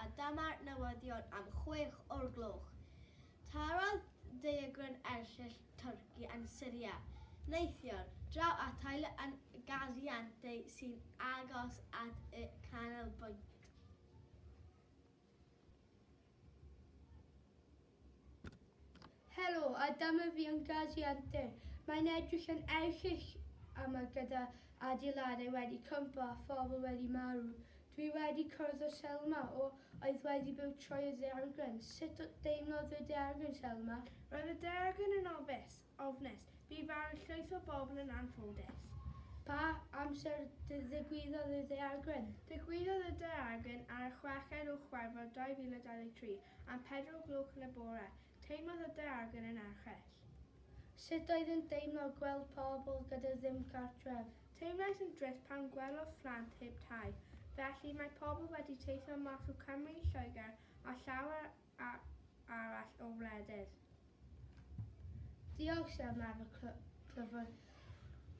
a dyma'r newyddion am chwech o'r gloch. Tarodd daeargryn erchyll Twrci yn Syria neithiwr draw at teulu yn Gaziantep sy'n agos at y canolbwynt. Helo, a dyma fi yn Gaziante. Mae'n edrych yn erchyll yma gyda adeiladau wedi cwympo a phobl wedi marw. Dwi wedi cwrdd â Selma, o, oedd wedi byw trwy'r ddaeargryn. Sut deimlodd y daeargryn, Selma? Roedd y daeargryn yn ofis. ofnus. Bu farw llwyth o bobl yn anffodus. Pa amser ddigwyddodd y daeargryn? Digwyddodd y daeargryn ar y chweched o Chwefror 2023 am pedwar o gloch yn y bore. Teimlodd y daeargryn yn erchyll. Sut oedd yn deimlo gweld pobl gyda ddim cartref? Teimlais yn drist pan gwelodd phlant heb tai. Felly, mae pobl wedi teithio mas o Cymru, Lloegr a llawer arall o wledydd. Diolch Sam am y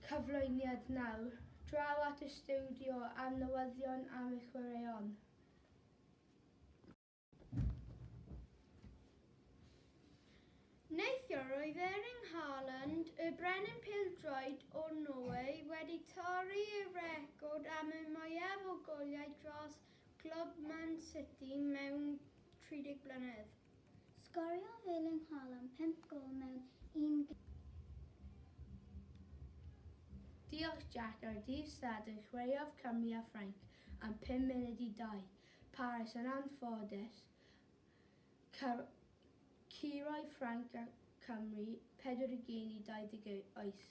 cyflwyniad nawr draw at y stiwdio a'r newyddion am y chwaraeon. Neithiwr roedd Erling Haaland, y brenin pêl-droed o Norwy wedi torri y record am y mwyaf o goliau dros Clwb Man City mewn 30 blynedd. Sgorio Felin Haaland pump gôl mewn un gêm. Diolch Jack ar ddydd Sadwrn chwaraeodd Cymru a Ffrainc am pum munud i dau. Paris yn anffodus. Curodd Ffrainc a Chymru pedwar gêm i 28.